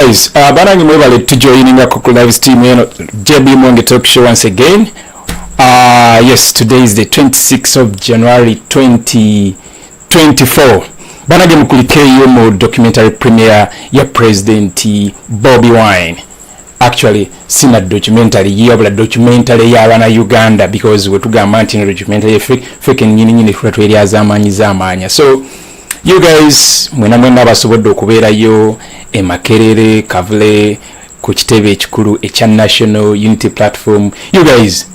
guys uh, banange mwebale tujoininga ku live stream eno jb monge talk show once again uh, yes today is the 26th of january 2024 banange mukulikeyo mu documentary premiere ya president bobi wine actually sina documentary yeyabula documentary yabana uganda because wetugamba nti no documentary fake fake nyini nyini fula tweri azamanya zamanya so you guys mwena mwena abasobodde okubeerayo emakerere kavule ku kitebe ekikulu ekya national unity platform you guys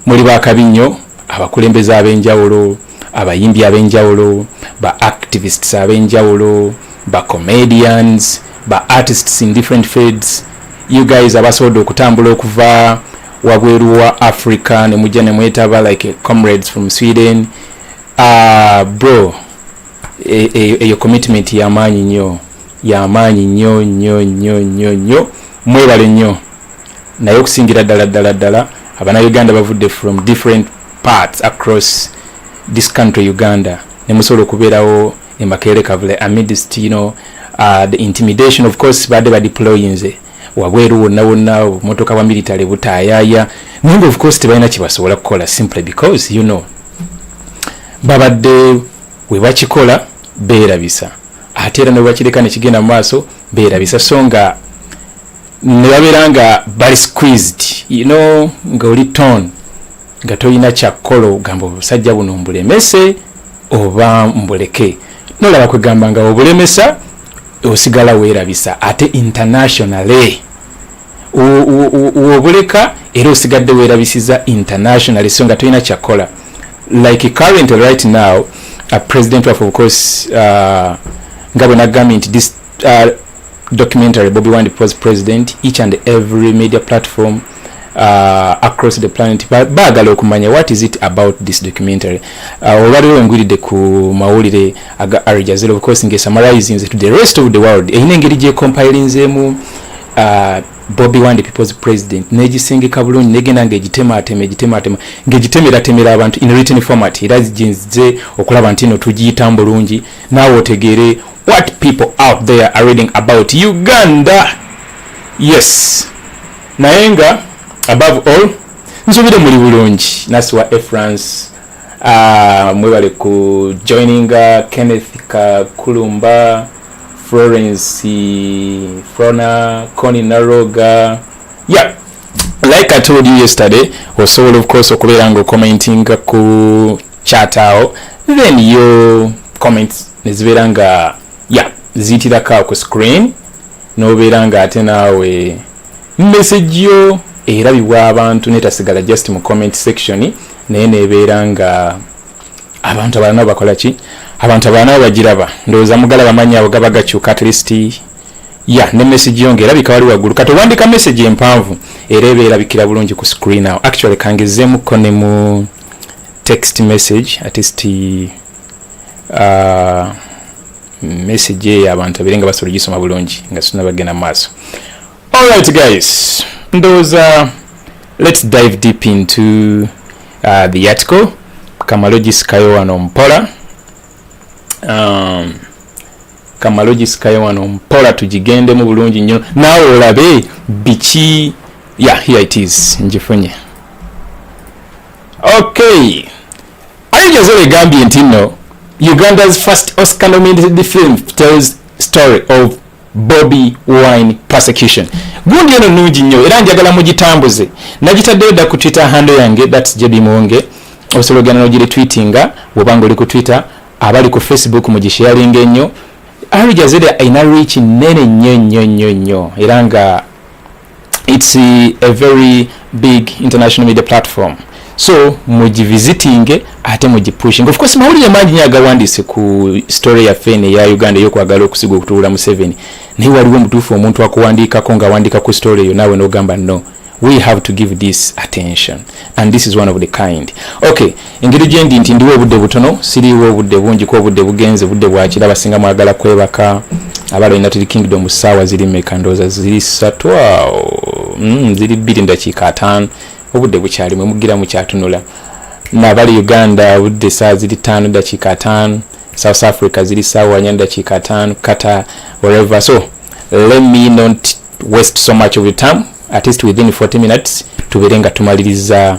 muli bakabi nnyo abakulembeze ab'enjawulo abayimbi ab'enjawulo ba activists ab'enjawulo ba comedians ba artists in different fields you guys abasobodde okutambula okuva wabweru wa africa ne mujja ne mwetaba like comrades from sweden Ah, bro e, e, eyo commitment yamaanyi nnyo yamaanyi nnyo nnyo nnyo nnyo nnyo mwebale nnyo naye okusingira ddala ddala ddala abana uganda bavudde from different parts across this country uganda nemusobola okubeerawo emakeere kavule amidst you know, uh, the intimidation of course baadde badeployinze wabweru wonna wonna obumotoka bwa military butaayaaya naye nga ofcourse tebalina kyebasobola kukola simply because you know babadde webakikola beerabisa ate era nebwebakireka nekigenda mu maaso beerabisa so nga nebabeera nga bali squeezed you know nga oli ton nga tolina kyakkola ogamba obusajja buno mbulemese oba mbuleke nolaba kwegamba nga obulemesa osigala weerabisa ate internationally wobuleka era osigadde weerabisiza internationally so nga tolina kyakkola like current right now uh, president waffe ofcourse uh, nga bwe nagambye nti this uh, documentary bobi wand pos president each and every media platform uh, across the planet baagala okumanya what is it about this documentary uh, olwaliro wengwiridde ku mawulire aga arjazil of course nge summarizing to the rest of the world erina engeri gyecompilinzeemu uh, bobi wande people's president negisengeka bulungi negenda nga egitematema egitematema ngegitemeeratemera abantu in written format era ginze okulaba nti no tugiyitamu bulungi naawe otegeere what people out there are reading about uganda yes naye nga above all nsubire muli bulungi nasiwa e france uh, mwebale ku joininga uh, kenneth kakulumba florence frona coni naroga yeah like i told you yesterday osobola of course okubeera nga okomentinga ku chat awo then yo comments nezibeera nga ya yeah, ziyitirako ku screen nobeera nga ate naawe message yo erabibwa abantu netasigala just mu comment section naye nebeera nga abantu abalala nabo bakola ki abantu abalala nabo bagiraba ndowooza mugala bamanyi abo gaba gakyuka at least ya ne message yo ngerabika wali waggulu kati owandika message empanvu era eba erabikira bulungi ku screen awo actually kangezeemuko ne mu text message at least uh, message eyo abantu abere nga basobola ogisoma bulungi nga tunabagenda maaso alright guys ndowooza let's dive deep into uh, the article kamalogisikayo wano mpola um, kamalogisikayo wano mpola tugigendemu bulungi nnyo naawe olabe biki ya yeah, here it is ngifunye Okay. Al Jazeera egambye nti nno Uganda's first Oscar nominated film tells story of Bobby Wine prosecution. Gundi eno nungi nnyo era njagala mugitambuze. Nagitaddeyo dda ku Twitter handle yange that's JB Muwonge. Osobola ogenda n'ogiretweetinga bw'oba ng'oli ku Twitter, abali ku Facebook mugisharinga ennyo. Al Jazeera alina reach nnene nnyo nnyo nnyo nnyo era nga it's a very big international media platform so mugivisitinge ate mugipushing of course mawulire mangi nyo agawandiise ku story yaffe eno eya uganda eyokwagala okusiga okutuula museveni naye waliwo omutuufu omuntu akuwandiikako ng'awandiika ku story eyo naawe n'ogamba no we have to give this attention and this is one of the kind okay engeri gyendi nti ndiwo obudde butono siriiwo obudde bungi ku obudde bugenze budde bwakira abasinga mwagala kwebaka abala united kingdom saawa ziri meka ndooza ziri satu awo mm, ziri bbiri ndakiika ataano obudde bukyali mwe mugira mukyatunula nabali uganda obudde saa ziri taano dakiika ataano south africa ziri saawa nya dakiika ataano kata wherever so let me not waste so much of your time at least within 40 minutes tubeere nga tumaliriza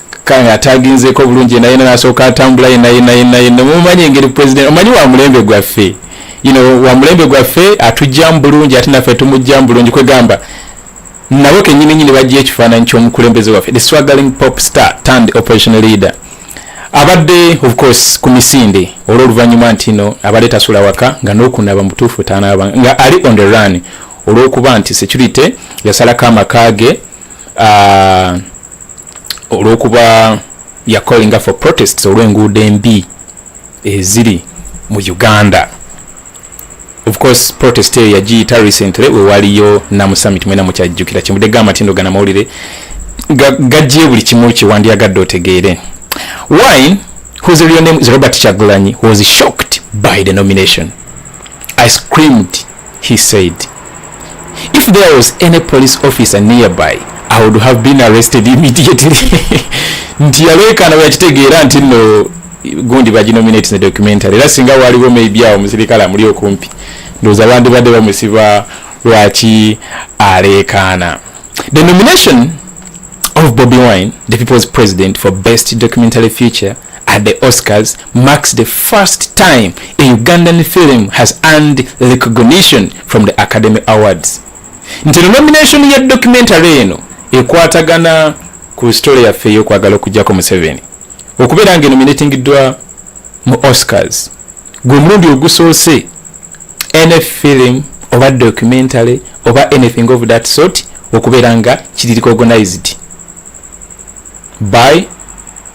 kanga ataginzeeko bulungi naye nasooka atambula yena yena yena yena mumanyi engeri president omanyi wa mulembe gwaffe you know wa mulembe gwaffe atujjamu bulungi ate naffe tumujjamu bulungi kwegamba nabo kenyini nyini bajja ekifaananyi ky'omukulembeze waffe the swaggling pop star turned operational leader abadde of course ku misinde olw'oluvannyuma nti no abadde tasula waka nga n'okunaba mutuufu tanaaba nga ali on the run olw'okuba nti security yasalako amaka ge uh, olwokuba ya callinga for protests olw'enguudo embi eziri mu uganda of course protest eyo yagiyita recently wewaliyo namu summit mwena mukyajjukira kyemude ga matindo gana mawulire gajjiye buli kimu kiwandiyagadde otegeere wine whose real name is robert chagulanyi was shocked by the nomination i screamed he said. If there was any police officer nearby, I would have been arrested immediately. nti yaleekaana bwe yakitegeera nti nno gundi baginominate ne documentary era singa waliwo maybe awo omusirikale amuli okumpi ndowooza bandibadde bamusiba lwaki aleekaana the nomination of Bobi Wine, the people's president for best documentary feature, at the Oscars marks the first time a Ugandan film has earned recognition from the Academy Awards. Nti no nomination ya documentary eno ekwatagana ku story yaffe y'okwagala okujjako Museveni okubeera nga enominatingiddwa mu Oscars gwe mulundi ogusoose any film oba documentary oba anything of that sort okubeera nga kiri recognized by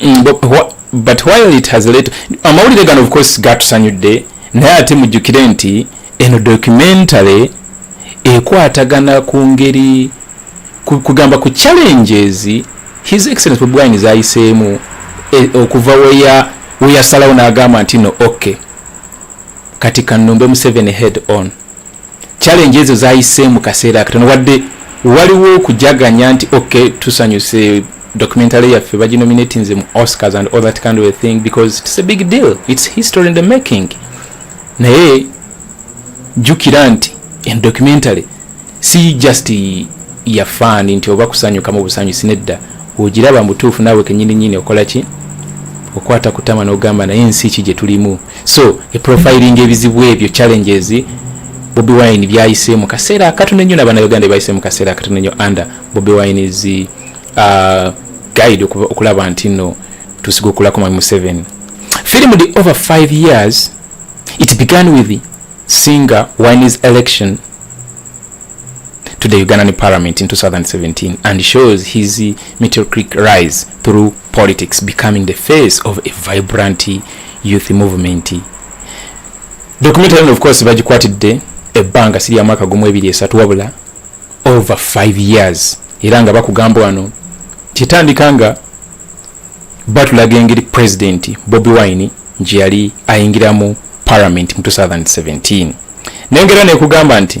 mm, but while it has late amawulire gano of course gatusanyudde naye ate mujjukire nti eno documentary ekwatagana ku ngeri kugamba ku challenges his excellence bobi wine zayiseemu e, okuva weya weyasalawo n'agamba nti no ok kati kanumbe museveni head on challenge ezo zayise mu kaseera akatono wadde waliwo okujaganya nti ok tusanyuse documentary yaffe baginominatinze mu oscars and all that kind of a thing because it's a big deal it's history in the making naye jukira nti en documentary si just ya fan nti oba kusanyuka mu busanyusi nedda ogiraba mutuufu naawe kenyini nyini okola ki okwata kutama n'ogamba naye ensi ki gye tulimu so e profiling ebizibu ebyo challenges Bobi Wine byayise mu kaseera akatono ennyo n'abana Uganda bayise mu kaseera akatono ennyo under Bobi Wine is uh, guide okulaba nti no tusiga okulako mami Museveni film the over 5 years it began with the singer Wine's election to the Ugandan parliament in 2017 and shows his meteoric rise through politics becoming the face of a vibrant youth movement documentary eno of course bagikwatidde ebbanga si lya mwaka gumu ebiri esatu wabula over 5 years era nga bakugamba wano kitandika nga batulaga engeri president bobi wine nti yali ayingiramu parliament mu 2017 nengera nekugamba nti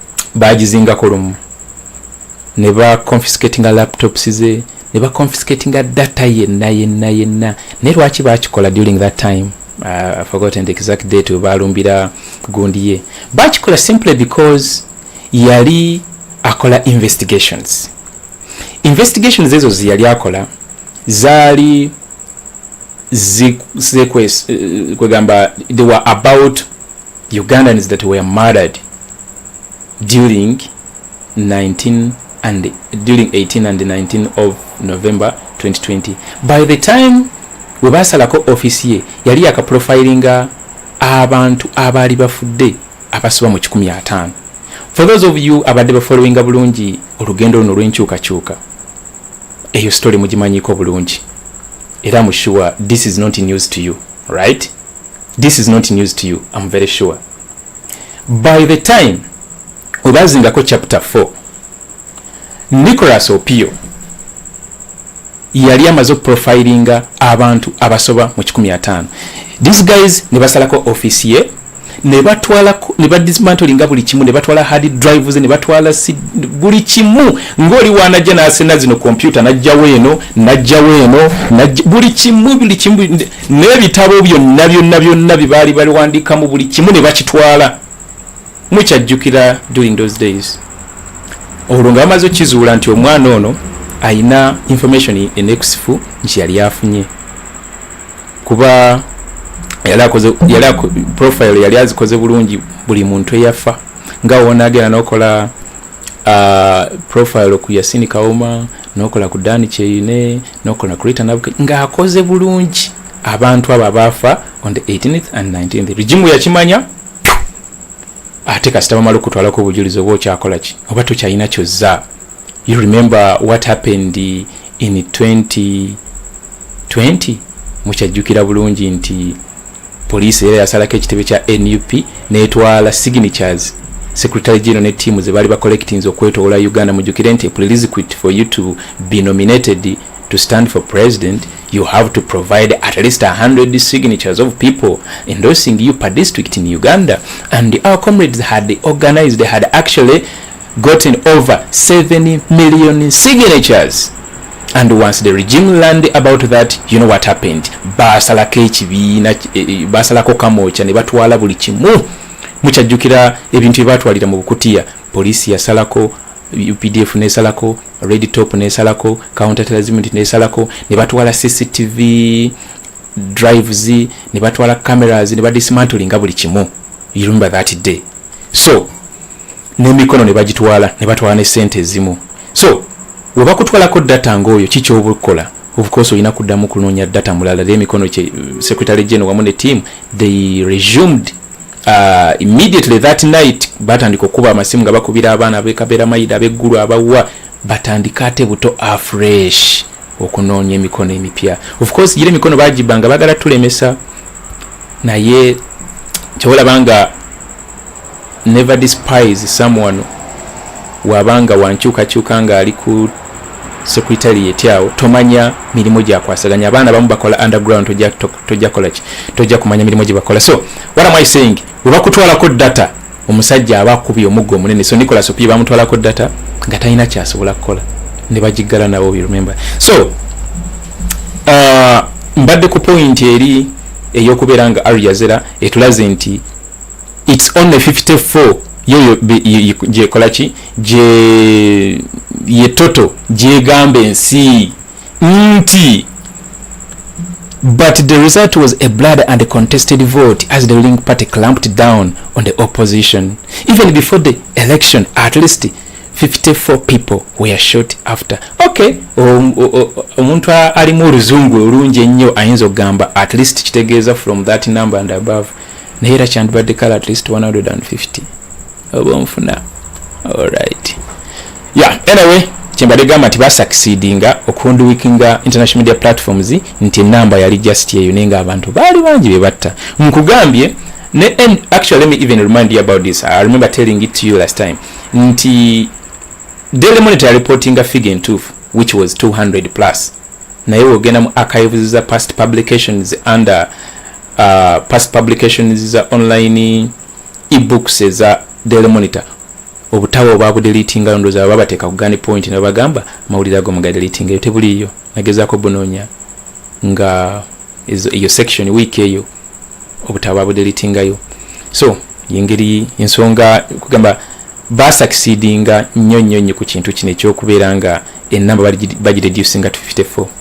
bagizingako lumu ne ba confiscatinga laptops ze ne ba confiscatinga data yenna yenna yenna naye lwaki bakikola during that time uh, forgotten the exact date webalumbira gundi ye bakikola simply because yali akola investigations investigations ezo zeyali akola zaali zekwegamba eh, they were about ugandans that were murdered during 19 and during 18 and 19 of november 2020 by the time we basalako office ye yali yakaprofilinga abantu abaali bafudde abasoba mu 15 for those of you abadde bafollowinga bulungi olugendo luno olwenkyukakyuka eyo story mugimanyiko bulungi era mu sure this is not news to you right this is not news to you im very sure by the time webazingako chapter 4 nicolas opio yali amaze okuprofilinga abantu abasoba mu 15 these guys ne basalako office ye ne batwala ne badismantolinga buli kimu ne batwala hard drives ne batwala buli kimu ng'oli wanajja n'asena zino kompyuta n'ajjawo eno n'ajjawo eno buli kimu buli kimu n'ebitabo byonna byonna byonna bye baali baliwandiikamu buli kimu ne bakitwala mukyajjukira during those days olwo nga bamaze okukizuula nti omwana ono alina information enekusifu nti yali afunye kuba profile yali azikoze bulungi buli muntu eyafa nga wonagenda nokola uh, profile ku yasini kawoma nokola ku dani kyeyine nokola create an advocate nga akoze bulungi abantu abo abaafa on the 18th and 19th rigimu yakimanya ate kasita bamala okutwalako obujulizi oba okyakola ki oba tokyalina kyozza you remember what happened in 2020 mukyajjukira bulungi nti Poliisi era yasalako ekitebe kya nup n'etwala signatures secretary general ne tiimu ze baali bacollectinze okwetoola uganda mujukire nti prerequisite for you to be nominated to stand for president you have to provide at least 100 signatures of people endorsing you per district in uganda and our comrades had organized they had actually gotten over 7 million signatures and once the regime learned about that you know what happened basalako ekibiina e, e, basalako kamooca ne batwala buli kimu mukyajjukira ebintu byebatwalira mu bukutiya poliisi yasalako updf nesalako red top nesalako counterterrorismnt nesalako ne batwala cctv drives ne batwala cameras ne badismantlinga buli kimu you remember that day so nemikono nebagitwala nebatwala ne sente ezimu so webakutwalako data ngaoyo kikyobukola ofcourse olina kuddamu kunonya data mulala le emikono kye secretary general wamu ne team they resumed uh, immediately that night batandika okukuba amasimu nga bakubira abaana abekabera mayida abeggulu abawa batandika ate buto afresh okunoonya emikono emipya ofcourse gira emikono bagibanga bagala tulemesa naye kyewolabanga never despise someone waba nga wankyukakyuka nga ali ku secretariat awo tomanya mirimu gyakwasaganya abaana bamu bakola underground tojja kolaki tojja kumanya mirimu gyebakola so what am i saying webakutwalako data omusajja aba akubye omuggo omunene so nicolas opie bamutwalako data nga talina kyasobola kukola ne bagiggala nawo remember so uh, mbadde ku point eri eyokubeera nga ariazera etulaze nti it's only 54 yoyo gyekola ki gye ye toto gyegamba ensi nti but the result was a blood and a contested vote as the ruling party clamped down on the opposition even before the election at least 54 people were shot after okay omuntu alimu oluzungu olungi ennyo ayinza okugamba at least kitegeeza from that number and above naye era kyandibadde kale at least 150 oba onfuna alright yeah anyway kyembadde gamba nti basakisidinga okunduwikinga international media platforms nti enamba yali just eyo naye nga abantu baali bangi be batta nkugambye ne and actually let me even remind you about this i remember telling it to you last time nti daily monitor reportinga figure entuufu which was 200 plus naye wogenda mu archives za past publications under uh, past publications za online ebooks eza daily monitor obutawa obabudelitingayo ndoza baba bateeka kugani point nebagamba mawulire ago mugadelitingayo tebuliiyo nagezaako bunoonya nga eyo section week eyo obutawa babudelitingayo so yengeri ensonga kugamba basakisidinga nnyo nnyo nnyo ku kintu kino ekyokubeera nga enamba bagireducinga to 54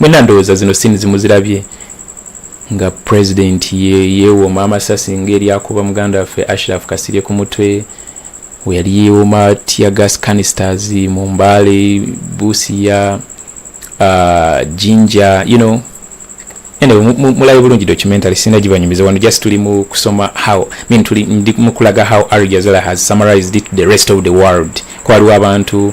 mwena ndowooza zino sini zimuzirabye nga president ye yewooma amasasi ngaeryakuba muganda waffe ashraf kasirye ku mutwe weyali yewooma tia gas canisters mu mbaale busiya uh, jinja you know mulabe bulungi documentary sina gibanyumiza wano just tuli mu kusoma how mean tuli ndi mukulaga how arjazala has summarized it the rest of the world kwaliwo abantu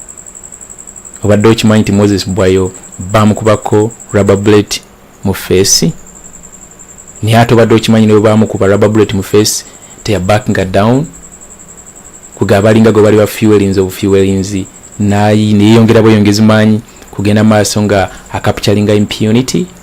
obadde okimanyi nti moses bwayo bamukubako rubber bullet mu feesi naye ate obadde okimanyi ne bwebamukuba rubber bullet mu feesi teya back nga down kuga abalinga gwe bali ba fuelings obu fuelings nayi neyeyongera bweyongezi maanyi kugenda maaso nga akapchalinga impunity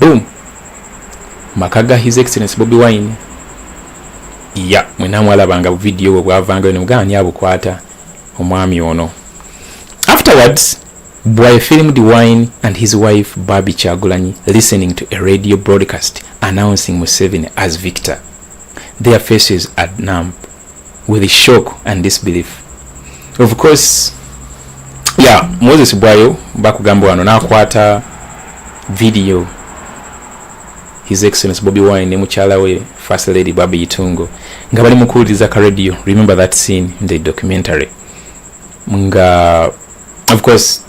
boom maka ga his excellence bobi wine ya mwena mwalabanga video bwe bwavangayo nemugaa ani abukwata omwami ono afterwards bwaye filmed wine and his wife babi kyagulanyi listening to a radio broadcast announcing museveni as victor their faces are numb with shock and disbelief of course yeah moses bwayo bakugamba wano nakwata video his excellence bobi wine ne mukyala we first lady babi itungo nga bali mukuwuliriza ka radio remember that scene in the documentary nga of course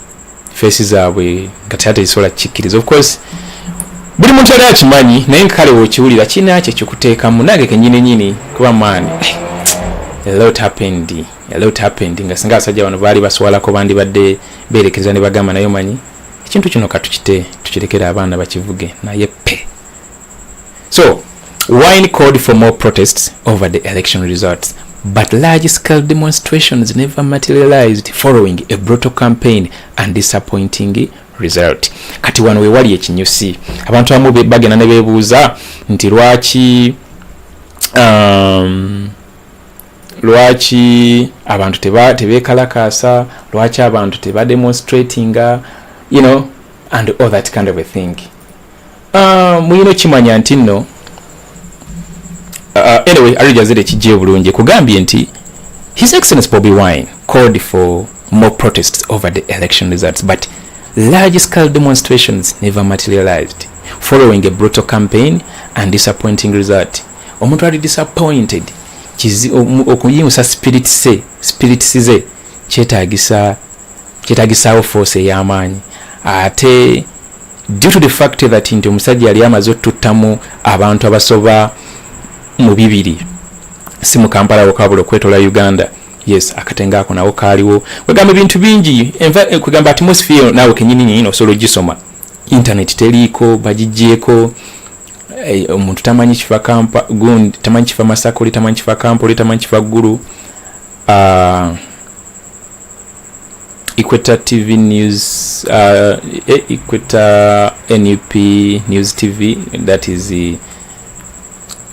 feesi zaabwe nga teyate zisobola kikkiriza of course buli muntu yali akimanyi naye nkale wokiwulira kiina kye kikuteekamu nange kenyini nyini kuba maani nga singa abasajja bano baali baswalako bandibadde beerekereza ne bagamba naye omanyi ekintu kino katukite tukirekere abaana bakivuge naye pe So, wine called for more protests over the election results, but large scale demonstrations never materialized following a brutal campaign and disappointing result. Kati wano wewali ekinyusi. Abantu amu bagenda ne bebuuza nti lwaki um, lwaki abantu teba tebekalakasa, lwaki abantu teba demonstratinga, you know, and all that kind of a thing. Ah, muyina okimanya nti nno ah, anyway arijazira ekijja obulungi kugambye nti his excellence bobi wine called for more protests over the election results but large scale demonstrations never materialized following a brutal campaign and disappointing result omuntu ali disappointed okuyingusa spirit se spirit size kyetagisa kyetagisaawo force ey'amaanyi ate due to the fact that nti omusajja yali amaze otuttamu abantu abasoba mu bibiri si mu kampala wokabula okwetola uganda yes akatenga ako nawo kaaliwo kwegamba ebintu bingi eh, kwegamba atmosphere naawe kenyini nyini osobola ogisoma intaneti teriiko bagigyeko eh, omuntu tamanyi kifa kampa gundi tamanyi kifa masaka oli tamanyi kifa kampa oli tamanyi kifa ggulu ah, Equator TV News, uh, e-, Equator NUP News TV, that is the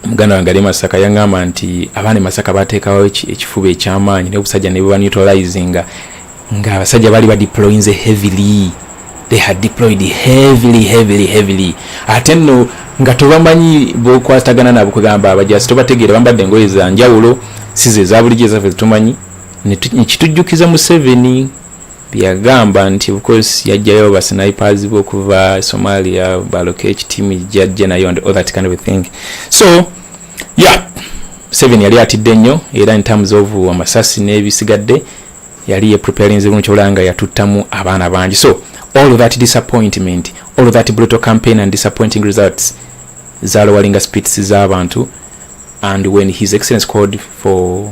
muganda wange ali masaka yaŋŋamba nti abaana masaka bateekawo ekifuba ekyamaanyi naye obusajja ne bubanutilizinga nga abasajja baali badeployinze heavily they had deployed heavily heavily heavily ate nno nga tobamanyi bokwatagana nabo kugamba abajasi tobategeera bambadde engoye za njawulo size ezabulijjo ezaffe zetumanyi nekitujjukiza museveni byeyagamba nti ofcourse yajjayo basinipers be okuva somalia baloka ekitimu jajja nayo and all that kind of thing so yeah seven yali atidde nnyo era in terms of amasasi n'ebisigadde yali yepreparing zirungi kyobulaba nga yatuttamu abaana bangi so all that disappointment all that brutal campaign and disappointing results zalowalinga spirits z'abantu and when his excellence called for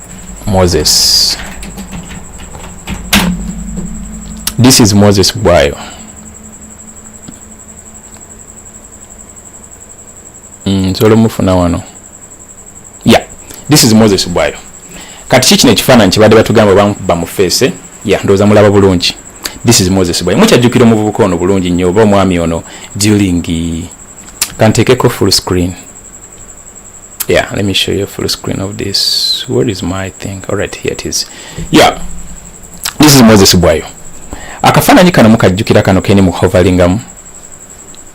Moses. This is Moses Bwayo. Mm, nsobola omufuna wano yeah this is moses bwayo kati ki kino ekifaananyi kyebadde batugamba bamukuba mu feese ya ndowooza mulaba bulungi this is moses bwayo mukyajjukira omuvubuka ono bulungi nnyo oba omwami ono during kanteekeko full screen yeah let me show you a full screen of this where is my thing all right here it is yeah this is moses bwayo akafaananyi kano mukajjukira kano keni muhovalingamu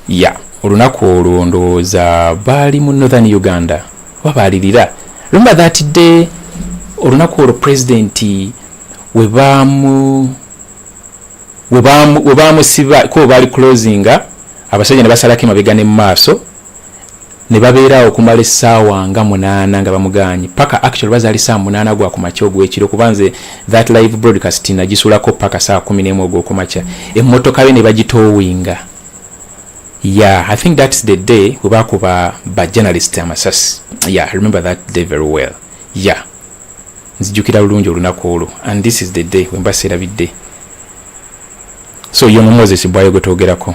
ya yeah. olunaku olwo ndowooza baali mu northern uganda oba baalirira lumba that day olunaku olwo pulezidenti we baamusiba kuba baali closinga abasajja ne basalako emabega ne mu maaso ne babeera awo okumala essaawa nga munaana nga bamugaanyi paka actually bazaali saa munaana gwa ku makya ogw'ekiro kuba nze that live broadcast nagisulako paka saa kumi n'emu ogw'oku makya emmotoka yo ne bagitoowinga ya i think that's the day we bakuba ba journalist amasasi ya remember that day very well ya nzijukira bulungi olunaku olwo and this is the day wemba seerabidde so yono moses bwayo gwetwogerako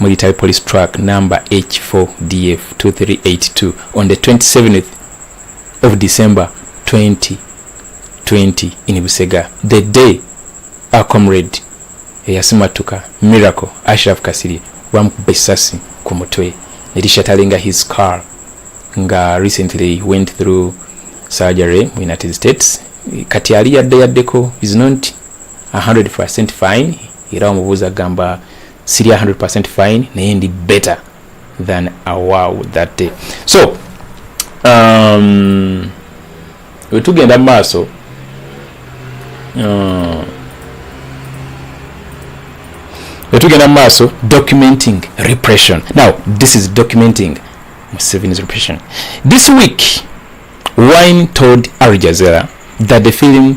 Military Police Truck number H4DF2382 on the 27th of December 2020 in Busega. The day our comrade eyasimatuka Miracle Ashraf Kasiri bamukubba essasi ku mutwe ne lishatalinga his car nga recently went through surgery mu United States kati ali yadde yaddeko is not 100% fine era omubuuzi agamba siri 100 fine naye ndi better than awow that day so um, wetugenda mu maaso uh, wetugenda mu maaso documenting repression now this is documenting museveni's repression this week wine told arjazera that the film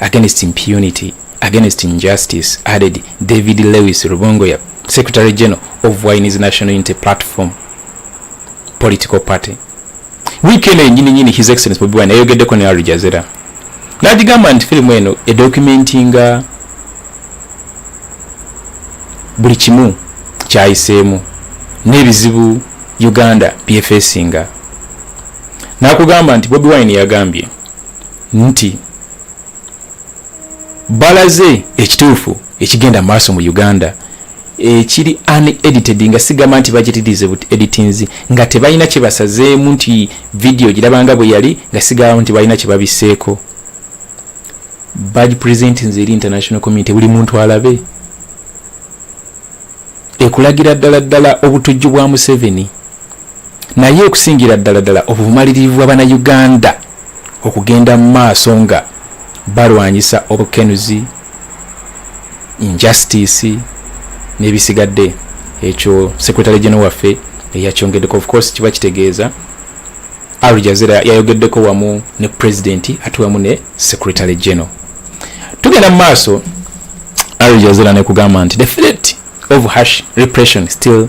against impunity against injustice added david lewis rubongoya secretary general of wines national unity platform political party weekend enyini nyini his excellence bobi wine ayogeddeko ne arijazera nagigamba nti firimu eno edocumentinga buli kimu kyayiseemu n'ebizibu uganda byefesinga nakugamba nti bobi wine yagambye nti balaze ekituufu ekigenda maaso mu uganda ekiri unedited nga sigamba nti bagitirize but editinzi nga tebalina kyebasazeemu nti vidiyo girabanga bwe yali nga sigalamu nti balina kyebabiseeko bagipresentinze eri international community buli muntu alabe ekulagira ddala ddala obutujju bwa museveni naye okusingira ddala ddala obumalirivu bwa bana uganda okugenda mu maaso nga balwanyisa obukenuzi injustice n'ebisigadde ekyo secretary general waffe eyakyongeddeko of course kiba kitegeeza al jazira yayogeddeko wamu ne president ate wamu ne secretary general tugenda mu maaso al jazira nekugamba nti the threat of hash repression still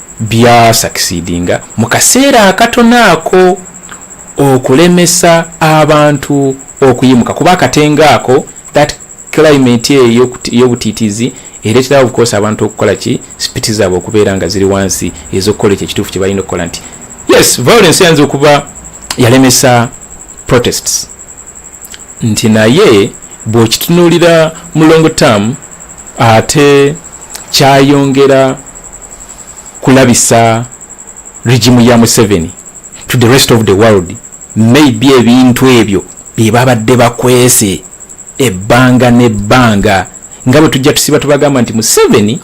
bya succeedinga mu kaseera akatono ako okulemesa abantu okuyimuka kuba akatenga ako that climate eyo ey'obutiitiizi ereeterawo obukoosa abantu okukola ki sipiti zaabwe okubeera nga ziri wansi ez'okukola ekyo ekituufu kye balina okukola nti yes violence eyinza okuba yalemesa protests nti naye bw'okitunuulira mu long term ate kyayongera kulabisa regimu ya museveni to the rest of the world maybe ebintu ebyo byebabadde bakwese ebbanga nebbanga nga bwe tujja tusiba tubagamba nti museveni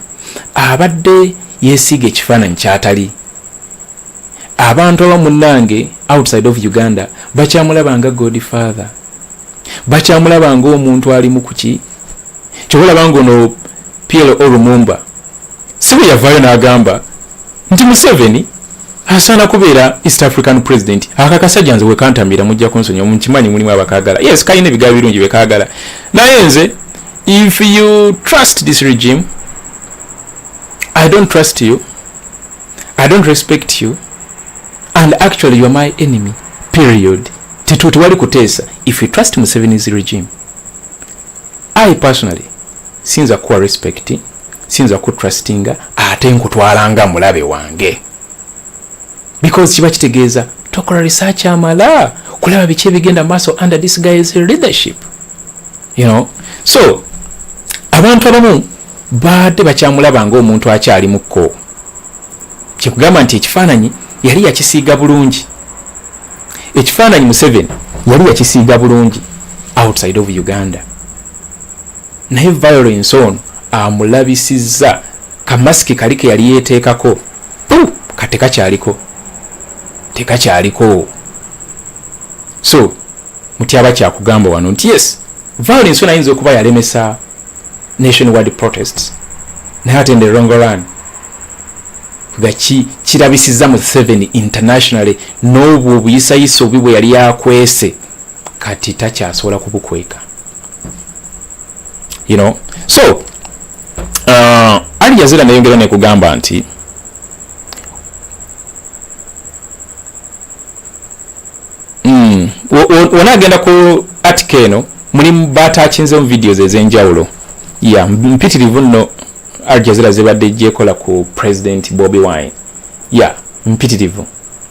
abadde yesiiga ekifaananyi kyatali abantu aba munange outside of uganda bakyamulaba nga god father bakyamulaba nga omuntu ali mukuki kyobalaba nga ono plo lumumba sibe yavaayo n'agamba nti museveni asaana kubeera east african president akakasajja nze wekantamira mujja kunsonyiwa mukimanyi mulimu abakagala yes kalina ebigaa birungi byekagala naye nze if you trust this regime i don't trust you i don't respect you and actually you are my enemy period tetuti wali kuteesa if you trust museveni's regime i personally sinza kuwa respect sinza ku trustinga ate nkutwalanga mulabe wange because kiba kitegeeza tokola research amala kulaba biki ebigenda maaso under this guy's leadership you know so abantu abamu baadde bakyamulaba ngaomuntu akyali mukko kyekugamba nti ekifaananyi yali yakisiiga bulungi ekifaananyi museveni yali yakisiiga bulungi outside of uganda naye violence ono amulabisizza kamasiki kali ke yali yeteekako ka tekakyaliko tekakyaliko so mutyaba kyakugamba wano nti yes violence ona ayinza okuba yalemesa nation wide protests naye ate nde rongoran nga kirabisiza mu seven internationally n'obwo obuyisayisa obi bwe yali akwese kati takyasobola kubukweka you know so uh, ali jazira neyongera nekugamba nti mm, wona agenda ku atika eno mulimu batakinzemu videos ezenjawulo ya yeah, mpitirivu nno aljazira zebadde jekola ku president bobi wine ya yeah, mpitirivu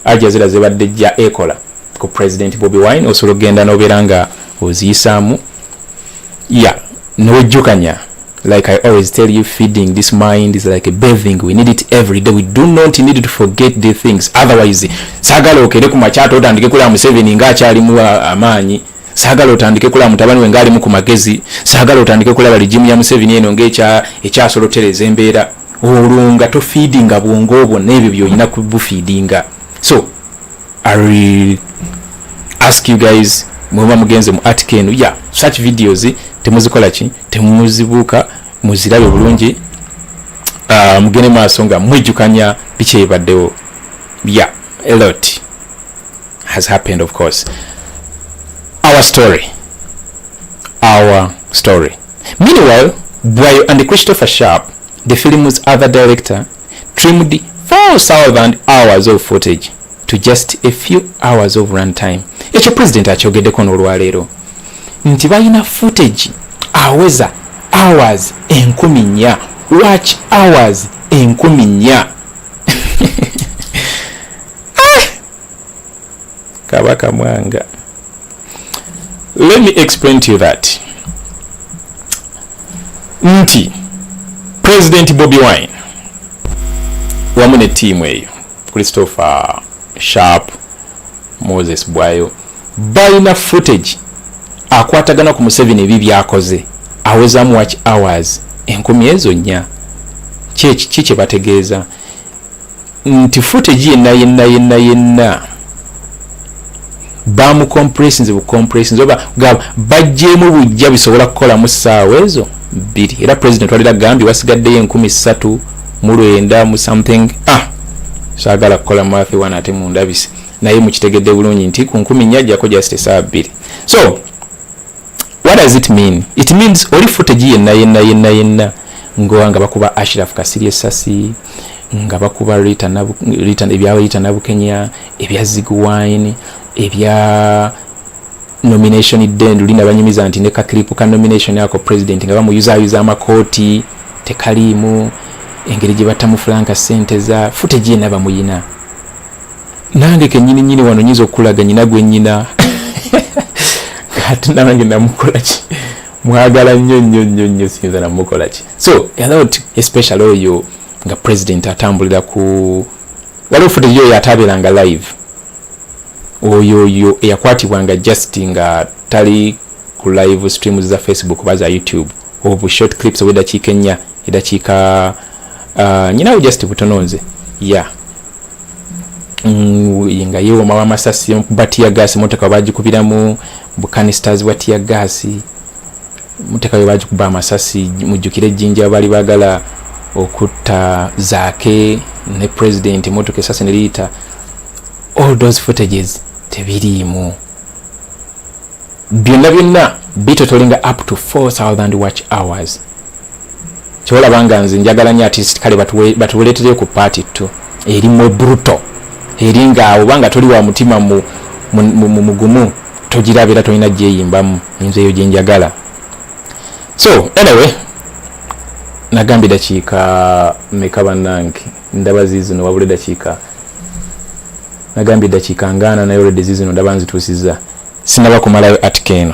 Aljazeera zebadde jja ekola ku president Bobi Wine osobola okugenda nobeera nga oziyisaamu ya newejjukanya like I always tell you feeding this mind is like a bathing we need it every day we do not need to forget the things otherwise sagala okere ku makyata otandike kulaba Museveni nga akyali mu uh, amaanyi sagala otandike kulaba mutabani we ngaali mu ku magezi sagala otandike kulaba ligimu ya Museveni eno ngaekya ekyasolotereza embeera olwo nga tofiidinga bwongo obwo n'ebyo byolina kubufiidinga so i ask you guys mwemuba mugenze mu article eno ya such videos temuzikola ki temuzibuuka muzirabe bulungi uh, mugende maaso nga mwejjukanya biki ebibaddewo ya a lot has happened of course our story our story Meanwhile, Bwayo and Christopher Sharp, the film's other director, trimmed 4,000 hours of footage to just a few hours of run time. Ekyo president akyogeddeko n'olwaleero nti balina footage aweza hours enkumi nnya watch hours enkumi nnya kabaka mwanga let me explain to you that nti president bobi wine wamu ne tiimu eyo christopher sharp moses bwayo balina footage akwatagana ku museveni ebi byakoze awezamu watch hours enkumi ezo nnya kyeki ki kyebategeeza nti footage yenna yenna yenna yenna bamucompressinze bucompressinze oba gaba bajjeemu bujja bisobola kukolamu ssaawa ezo bbiri era president walira agambye wasigaddeyo enkumi ssatu mu lwenda mu something ah saagala kukola maafi wana ate mundabise naye mukitegedde bulungi nti ku nkumi nnya ajjako just esaawa bbiri so what does it mean it means oli footage yenna yenna yenna yenna ngoa nga bakuba Ashraf Kasirye Sasi nga bakuba Rita na Rita ebya Rita na Bukenya ebya Zig Wine ebya nomination den lina banyumiza nti ne ka clip ka nomination yako president nga bamuyuza yuza amakoti tekalimu engeri gye batamu Frank sente za fute gye naba muyina nange kenyini nyini wano nyizo kulaga nyina gwe nyina kati nange namukolaki mwagala nnyo nnyo nnyo nnyo siyinza namukola ki so alot especially oyo nga president atambulira ku waliwo foto yo yatabeeranga live oyo oyo eyakwatibwa nga just nga tali ku live stream za facebook oba za youtube obu short clips oba edakiika ennya edakiika uh, nyinawo just butono nze ya yeah. Mm, nga yewomawo amasasi batiya gasi motoka bagikubiramu bukanistas bwa tiya gaasi mutekayo bagikuba amasasi mujjukire ejjinja baali bagala okutta zaake ne president emotoka esasi neriyita all those footages tebiriimu byonna byonna bitotolinga up to 4000 watch hours kyolaba nga nze njagala nyo atist kale batubuletereyo ku paati ttu erimwe bruto eri ngaawo obanga toli wa mutima mugumu togiraba era tolina gyeyimbamu nze eyo gyenjagala so anyway nagambye dakiika meka banange ndaba zizino wabule dakiika nagambye dakiika ngaana naye olwedde zizino ndaba nzituusiza sinaba kumalayo atika eno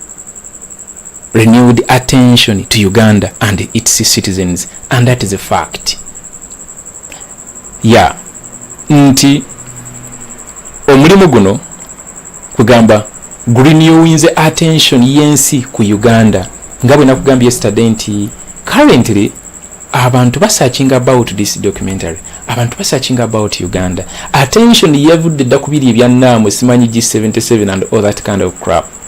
renewed attention to Uganda and its citizens and that is a fact ya nti omulimu guno kugamba gurinewinze attention yensi ku Uganda nga bwe nakugambye yesterday nti currently abantu basearching about this documentary abantu basearching about Uganda attention yevudde dda ku biri ebya naamu simanyi G77 and all that kind of crap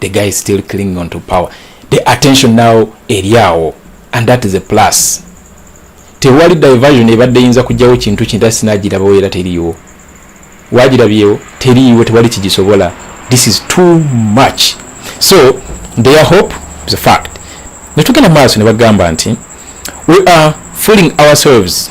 the guy is still clinging on to power the attention now eri awo and that is a plus tewali diversion ebadde eyinza kujjawo kintu kintu ate sinagirabawo era teriiwo wagirabyewo teriiwo tewali kigisobola this is too much so their hope is a fact netugenda maaso ne bagamba nti we are fooling ourselves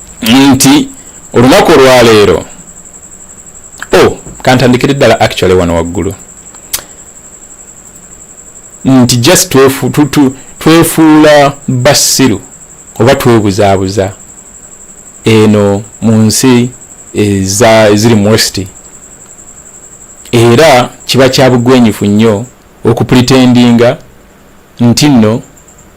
nti olunaku olwaleero o oh, kantandikire ddala actually wano waggulu nti just twefu, tu, tu, twefuula basiru oba twebuzaabuza eno mu nsi eziri mu westi era kiba kyabugwenyifu nnyo okupretendinga nti nno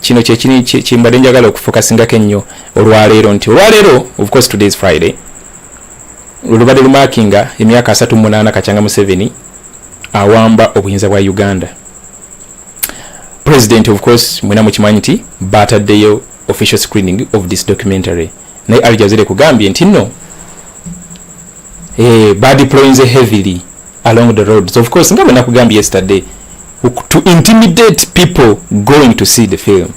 kino kyekini kimbadde njagala okufokasingako ennyo olwaleero nti olwaleero of course today is friday lulubadde lumakinga emyaka asatu munaana kakyanga museveni awamba obuyinza bwa uganda president of course mwena mukimanyi nti bataddeyo official screening of this documentary naye aljazire kugambye nti no eh, badeployinze heavily along the roads of course nga bwe nakugambye yesterday to intimidate people going to see the film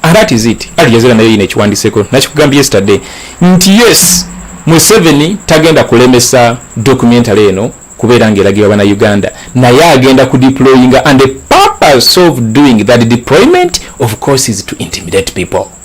and that is it ali jazira nayo yine ekiwandiseko nakikugambye yesterday nti yes museveni tagenda kulemesa documentary eno kubeera ngaeragibwa bana uganda naye agenda ku deployinga and the purpose of doing that deployment of course is to intimidate people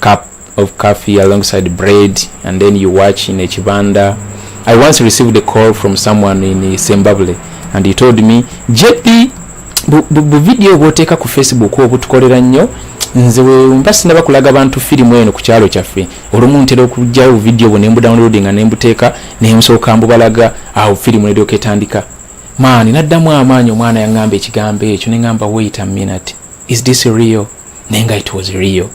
cup of coffee alongside bread and then you watch in a chibanda i once received a call from someone in zimbabwe and he told me jp bu video bwoteeka ku facebook obutukolera nnyo nze wemba sinaba kulaga bantu firimu eno ku kyalo kyaffe olumu ntera okugyawo video bwo nembudownloading nga nembuteeka nensooka mbubalaga awo firimu neryoka etandika maani naddamu amaanyi omwana yaŋŋamba ekigambo ekyo neŋŋamba wait a minute is this real naye nga it was real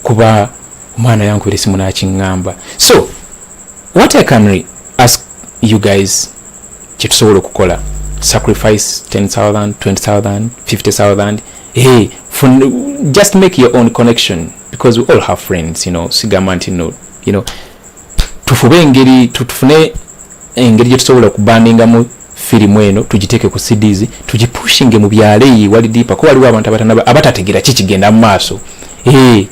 kuba omwana yankubira esimu nakiŋŋamba so what i can re ask you guys kyetusobola okukola sacrifice 10000 20000 50000 hey, for, just make your own connection because we all have friends you know sigamba nti no you know tufube engeri tufune engeri gye tusobola okubandingamu firimu eno tugiteeke ku cds tugipushinge mu byalo eyi wali dipa ko waliwo abantu abatanaba abatategera ki kigenda mu maaso ee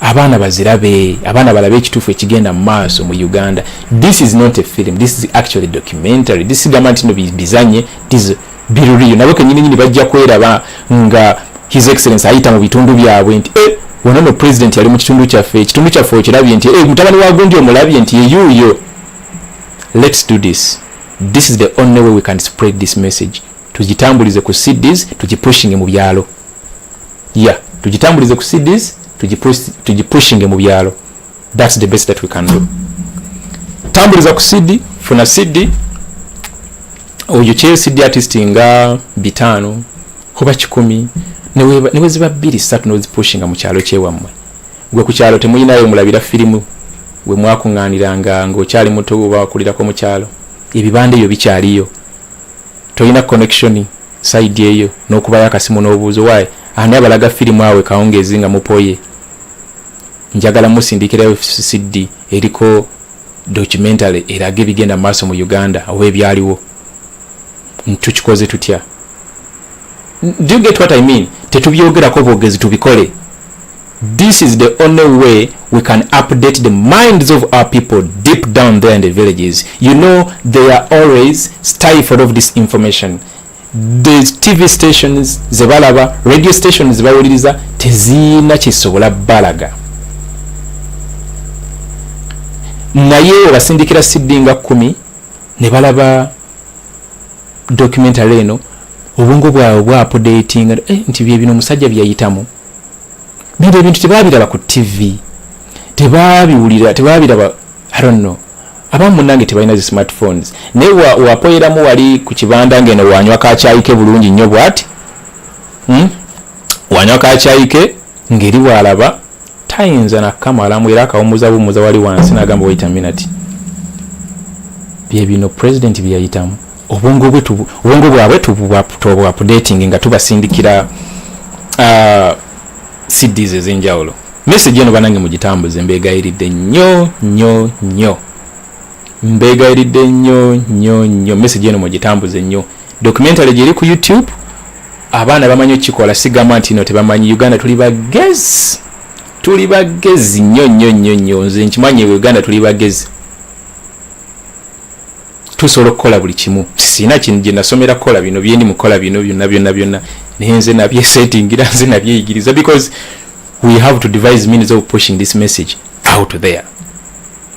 abaana bazirabe abaana balabe ekituufu ekigenda mu maaso mu uganda this is not a film this is actually documentary this gamba nti no bizanye this biruriyo nabo kenyini nyini bajja kweraba nga his excellence ayita mu bitundu byabwe nti eh, wano no president yali mu kitundu kyaffe ekitundu kyaffe okirabye nti eh, mutabani wa gundi omulabye nti yeyuuyo let's do this this is the only way we can spread this message tugitambulize ku cds tugipushinge mu byalo ya yeah, tugitambulize ku cds tugipushinge mu byalo That's the best that we can do. Tambuliza ku CD, funa CD oyo kyeyo CD artist nga bitano kuba kikumi newe ziba bbiri satu nozipushinga mu kyalo kyewammwe gwe ku kyalo temuyinayo mulabira firimu we mwakuŋŋaaniranga ng'okyali muto oba wakulirako mu kyalo ebibanda ebyo bikyaliyo tolina connection saidi eyo n'okubayo akasimu n'obuuzo waayi ani abalaga firimu awe kawungeezi nga mupoye njagala musindikirayo cd eriko documentary eraga ebigenda maaso mu uganda oba ebyaliwo tukikoze tutya do you get what i mean tetubyogerako bwogezi tubikole this is the only way we can update the minds of our people deep down there in the villages you know they are always stifled of this information the tv stations zebalaba radio stations zebawuliriza teziina kisobola balaga naye webasindikira sidi nga kumi ne balaba documentary eno obwongo bwabwe bwapodatinga eh, nti byebino omusajja byeyayitamu bino ebintu tebabiraba ku tv tebabiwulira tebabiraba I don't know abamu munange tebalina zi smartphones naye wapoyeramu wali ku kibanda ngeno wanywa kakyayike bulungi nnyo bwati hmm? wanywa kakyayike ngeri walaba tayinza nakamalamu era akawumuza bumuza wali wansi nagamba wayita minati byebino president byeyayitamu obwongo bwabwe tubwapudating nga tubasindikira uh, cds ezenjawulo message eno banange mugitambuze mbegayiridde nnyo nnyo nnyo mbegayiridde nnyo nnyo nnyo message eno mugitambuze nnyo documentary gyeri ku youtube abaana bamanyi okukikola sigamba nti no tebamanyi uganda tuli bagezi tuli bagezi nnyo nnyo nnyo nnyo nze nkimanyi e uganda tuli bagezi tusobola okukola buli kimu sina kino gye nasomera kukola bino byendi mukola bino byonna byonna byonna naye nze nabyesettingira nze nabyeyigiriza because we have to devise means of pushing this message out there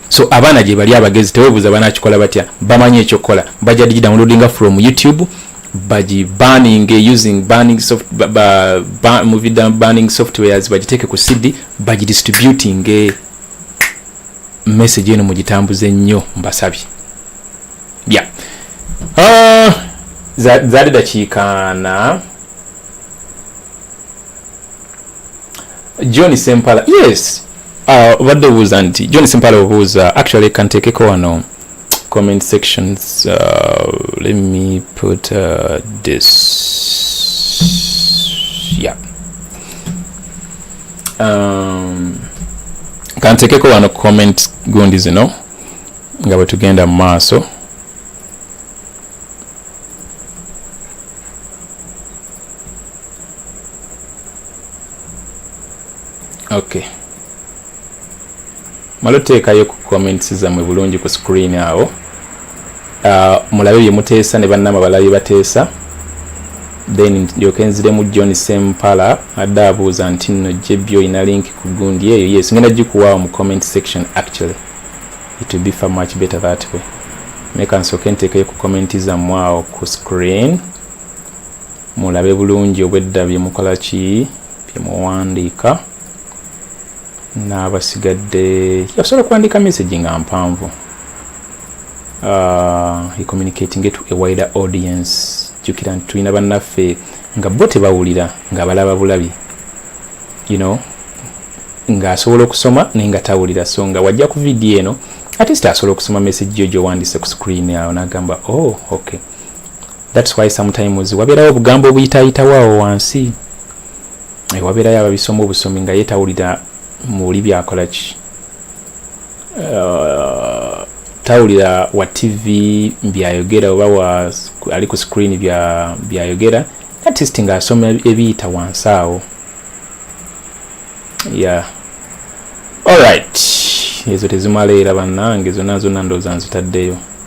so abaana gye bali abagezi tewebuuza banakikola batya bamanyi ekyokukola bajja digidownloadinga from youtube baji banning using banning soft, ba, ba, ba, movie banning softwares bagiteeke ku cd bagidistributing message eno mugitambuze nnyo mbasabye bya ah, zaali dakiikaana john sempala yes ah, obadde uh, obuuza nti john sempala obuuza actually kanteekeko wano comment sections uh, let me put uh, this yeah um, kantekeko wano comment gundi zino nga bwe tugenda mu maaso okay malo teekayo ku comments zammwe bulungi ku screen awo uh, mulabe bye muteesa ne bannama balabe bateesa then ndyoke nziremu john sempala adde abuuza nti nno jebbi olina link ku gundi eyo yes ngenda gikuwaawo mu comment section actually it will be far much better that way meka nsooke nteekeyo ku commenti zammwe awo ku screen mulabe bulungi obwedda bye mukola ki bye muwandiika n'abasigadde yasobola kuwandiika message nga mpanvu uh, he communicating to a wider audience jukira nti tulina bannaffe nga bo tebawulira nga balaba bulabi you know ng'asobola okusoma naye nga tawulira so nga wajja ku vidiyo eno atist asobola okusoma message yo gyowandise ku screen awo nagamba oh okay thats why sometimes wabeerawo obugambo obuyitayitawo awo wansi eh, wabeerayo ababisoma obusomi nga yetawulira muli byakolaki uh, tawulira wa tv byayogera oba wa ali ku screen byayogera bya atist nga asoma ebiyita wansi awo ya allright ezo tezimala era bannange zonna zonna ndooza nzitaddeyo